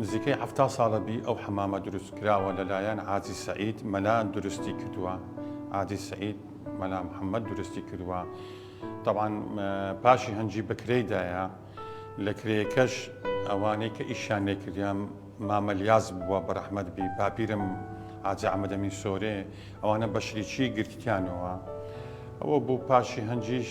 نزیکەی حەفتا ساڵە بی ئەو حەمامە دروست کراوە لە لایەن عازی سەعید مەلا دروستی کردووە عازی سەعید مەلا محەممەد دروستی کردووە تەوان پاشی هەنجی بەکرێی دایە لە کرێکەش ئەوانەی کە ئیشان لێ کردیان مامەلیاز بووە بە ڕەحمەت بی باپیرم ئاجا ئەمەدەمی سۆرێ ئەوانە بەشریی گرتیانەوە ئەوە بوو پاشی هەنجیش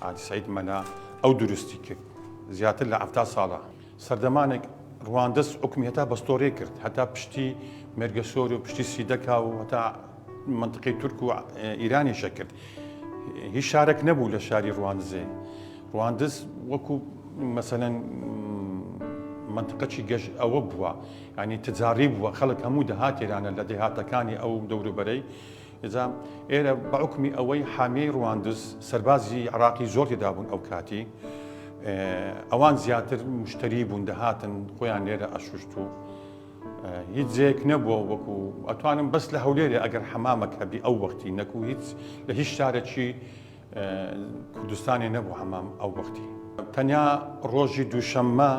حاجی سەید مەلا ئەو دروستی کرد زیاتر لە حەفتا ساڵە سەردەمانێک ڕواندز حکومی هەتا بەستۆرێ کرد هەتا پشتی مێرگەسۆر و پشتی سیدەکا و هەتا منطقەی تورک و ئیرانی شەکرد هیچ شارێک نەبوو لە شاری ڕواندزێ ڕواندز وەکو مەسەەن منطقەی گەشت ئەوە بووە ینی تجاری بووە خەڵک هەموو دەهاتێرانە لە دێهاتەکانی ئەو دەوروبەرەی جا ئێرە بە حوکمی ئەوەی حامیەی ڕواندز سەربازی عراقی زۆر تێدابوون ئەو کاتی ئەوان زیاتر مشتری بوون دەهاتن خۆیان لێرە ئەشوشت و هیچ جێک نەبووە وەکو ئەتوانم بەس لە هەولێرێ ئەگەر حەمامەک هەبی ئەو وەختی نەکو هیچ لە هیچ شارەکی کوردستانی نەبوو حەمام ئەو وەختی تەنیا ڕۆژی دووشەممە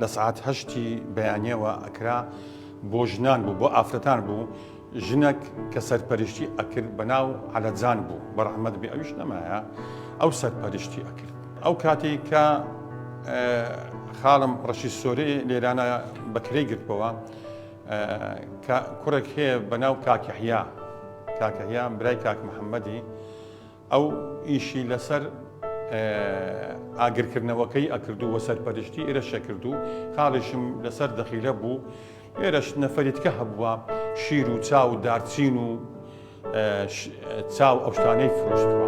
لە سعات هەشتی بەیانەوە ئەکرا بۆ ژنان بوو بۆ ئافرەتان بوو ژنەک کە سەرپەرشتی ئەکرد بە ناو عەلەجان بوو بەڕحمەت بێ ئەوش نەمایە ئەو سەرپەرشتی ئەکرد ئەو کاتی کە خاڵم ڕەشی سۆری لێرانە بەکرێ گرتبەوە کوڕێک هەیە بە ناو کاکەحیا کاکەحیا برای کاک محەممەدی ئەو ئیشی لەسەر ئاگرکردنەوەکەی ئەکردو و سەرپەرشتی ئێرەش ئەکردو خاڵیشم لەسەر دەخیلە بوو، ئێرەش نەفەری تکە هەبووە شیر و چا و دارچین و چا و ئەو شتانەی فرۆشتوە.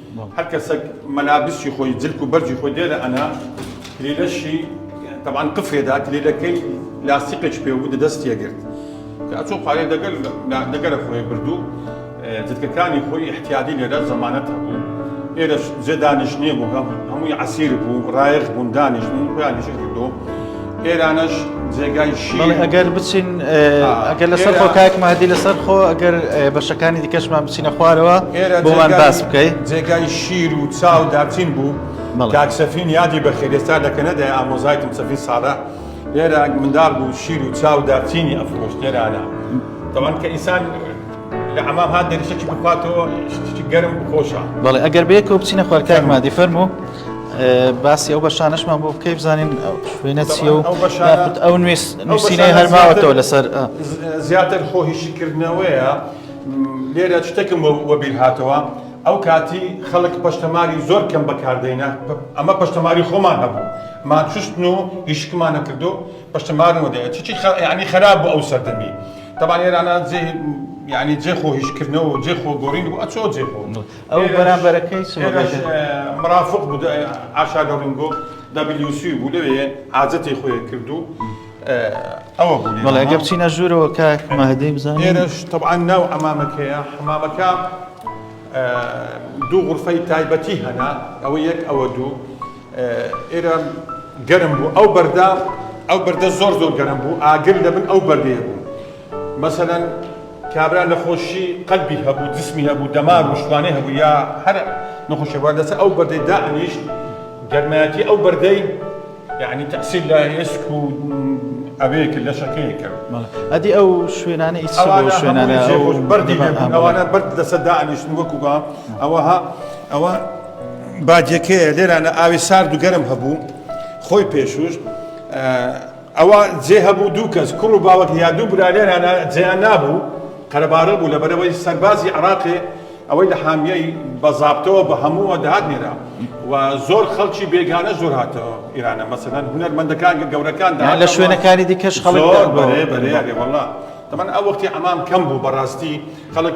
هەر کەسەک مەلا بسکی خۆی جلک و بەرجی خۆی دێرە ئەنا کلیلەشی تەبان قفرێ دا کلیلەکەی لاستیقێکی پێ بوو دەستیە گرت کە ئەچۆ پارێ دەگەل دەگەرە خۆی بردو جلکەکانی خۆی احتیادی لێرە زەمانەت هەبوو ئێرە جێ دانیشتنێ بوو هەمووی عەسیر بوو ڕایەخ بوون دانیشتن خۆیان نیشە کردو ئێرانەش جێگای شیرە. بەڵێ ئەگەر بچین آه. ئەگەر لەسەر خۆ کاک مادی لەسەر خۆ ئەگەر آه، بەشەکانی دیکەشمان بچینە خوارەوە ئێرە بۆمان جێگای- باس بکەیت جێگای شیر و چاو داچین بوو بەڵێ. کاک سەفین یادی بەخێر ئێستا لە کەنەدا ئامۆزایتم سەفین ساڵە لێرە منداڵ بوو شیر و چاو دارچینی ئەفرۆشت لێرانە تەوان کە ئینسان لە حەمام هات دەری شەکی بخواتەوە شتێکی گەرم بخۆشە بەڵێ ئەگەر بەیەکەوە بچینە خوار کاک مادی فەرموو باسی ئەو بەشانشمان بۆ بکەی بزانین شوێنە چیە و ئەو نووسینەی هەرماوەتەوە لەسەر زیاتر خۆ هیشیکردنەوەیە لێرە شتێکم وەبیر هاتەوە ئەو کاتی خەڵک پشتەماری زۆر کەم بەکاردەینە ئەمە پشتەماری خۆمان هەبوو ماچستن و هیشکمانە کردو پشتەمارەوە دەیە چی ینی خراپ بۆ ئەو سەردەمی تەبان ئێرانە جێ یانی جێ خۆ هیش کردنەوە و جێ خۆ گۆڕین بوو ئەچۆ جێ خۆ ئەو بەرامبەرەکەی سمەگەش مرافق بوو ئاشاگە ڕنگۆ WC بوو لەوێ حاجەتی خۆی کرد و ئەوە بوو بەڵێ ئەگە بچینە ژوورەوە کاک مەهدەی بزانین ئێرەش تەبعان ناو ئەمامەکەیە حمامەکە دوو غرفەی تایبەتی هەنا ئەوە یەک ئەوە دوو ئێرەم گەرم بوو ئەو بەردە ئەو بەردە زۆر زۆر گەرم بوو ئاگر لە بن ئەو بەردەیە بوو مەسەلەن کابرا لە خۆشی قەلبی هەبوو جسمی هەبوو دەمار و شتوانێ هەبوو یا هەر نەخۆشەوە لەسەر ئەو بەردەی دائنیشت گەرمایەتی ئەو بەردەی یعنی تەسیل لە ئێسک و ئەوەیە کرد لەشەکەیە کرد ئەدی ئەو شوێنانە ئیچ شوێنانە بەردی ئەوانە بەرد لەسەر دائنیشتن وەکوگا ئەوەها ئەوە باجەکەیە لێرانە ئاوی سارد و گەرم هەبوو خۆی پێشوش ئەوە جێ هەبوو دوو کەس کوڕ و باوەت یا دوو برا لێرانە جێیان نابوو قەرەبارە بوو لەبەرەوەی سەربازی عراقێ ئەوەی لە حامیەی بەزابتەوە بە هەمووە دەهات نێرا و زۆر خەڵکی بێگانە زۆر هاتەوە ئێرانە مەسەدان هونەرمەندەکان گەورەکان لە شوێنەکانی دیکەش خەڵک بەێ بەێ وڵا تەمان ئەو وەختی ئەمام کەم بوو بەڕاستی خەڵک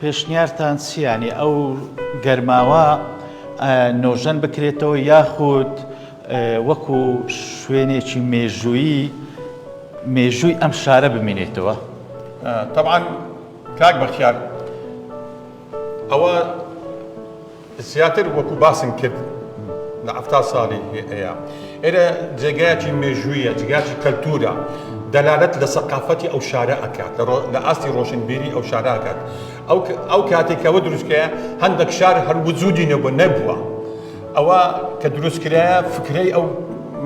پێشنیارتان چیە یانی ئەو گەرماوە نۆژەن بکرێتەوە یاخود وەکو شوێنێکی مێژوویی مێژووی ئەم شارە بمینێتەوە؟ تەبعەن کاک بەختیار ئەوە زیاتر وەکو باسم کرد لە حەفتا ساڵی ئەیا ئێرە جێگایەکی مێژوویە جگاچی کەلتورە دەلالەت لە سەقافەتی ئەو شارە ئەکات لە ئاستی ڕۆشنبیری ئەو شاراکات ئەو کاتێکەوە دروستکەیە هەندێک شار هەر وجودی نەبوو نەبووە ئەوە کە دروستکرایە فکرەی ئەو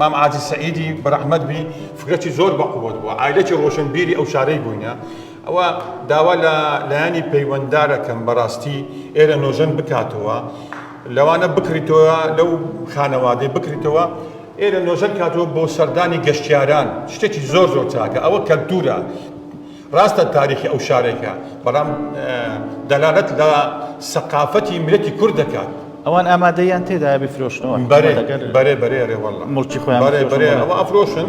مام عادی سعیدی بەرەحمەت بی فکرەی زۆر بەقوت بووە ئایلەکی ڕۆشنبیری ئەو شارەی بووینە ئەوا داوا لە لایەنی پەیوەنددارەکەم بەڕاستی ئێرە نۆژەن بکاتەوە لەوانە بکریتەوە لەو خانەوادەی بکریتەوە ئێرە نۆژەن کاتەوە بۆ سەردانی گەشتیاران شتێکی زۆر زۆر چاکە ئەوە کەلتورە ڕاستە تاریخی ئەو شارێکە بەڵام دەلالەت لە سەقافەتی مرەتی کورد دەکات ئەوان ئامادەیان تێدا بفرۆشنەوە بەرێ بەرێ بەرێ ڕێوەڵ مڵکی خۆیان بەرێ بەرێ ئەوە ئەفرۆشن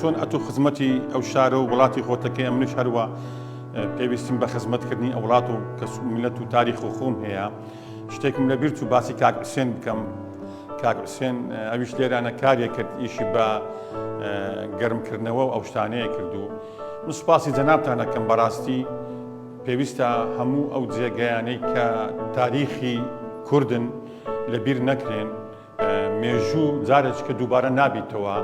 چۆن ئەتو خزمەتی ئەو شارە و وڵاتی خۆتەکەی منش هەروە پێویستیم بە خزمەتکردنی ئەو وڵات و کەس و میلەت و تاریخ و خۆم هەیە شتێکم لە بیرچ و باسی کاک حوسێن بکەم کاک حوسێن ئەویش لێرانە کارێک کرد ئیشی بە گەرمکردنەوە ئەو شتانەیە کردو من سوپاسی جەنابتانەکەم بەڕاستی پێویستە هەموو ئەو جێگەیانەی کە تاریخی کوردن لە بیر نەکرێن مێژوو جارێککە دووبارە نابیتەوە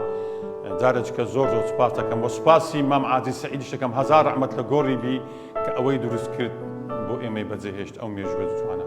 جارێککە زۆر زۆر سپاس دەکەم بۆ سپاسی مام عادی سعیدی شەکەم هزار ڕحمەت لە گۆڕی بی کە ئەوەی دروست کرد بۆ ئێمەی بەجێهێشت ئەو مێژوە جوانە.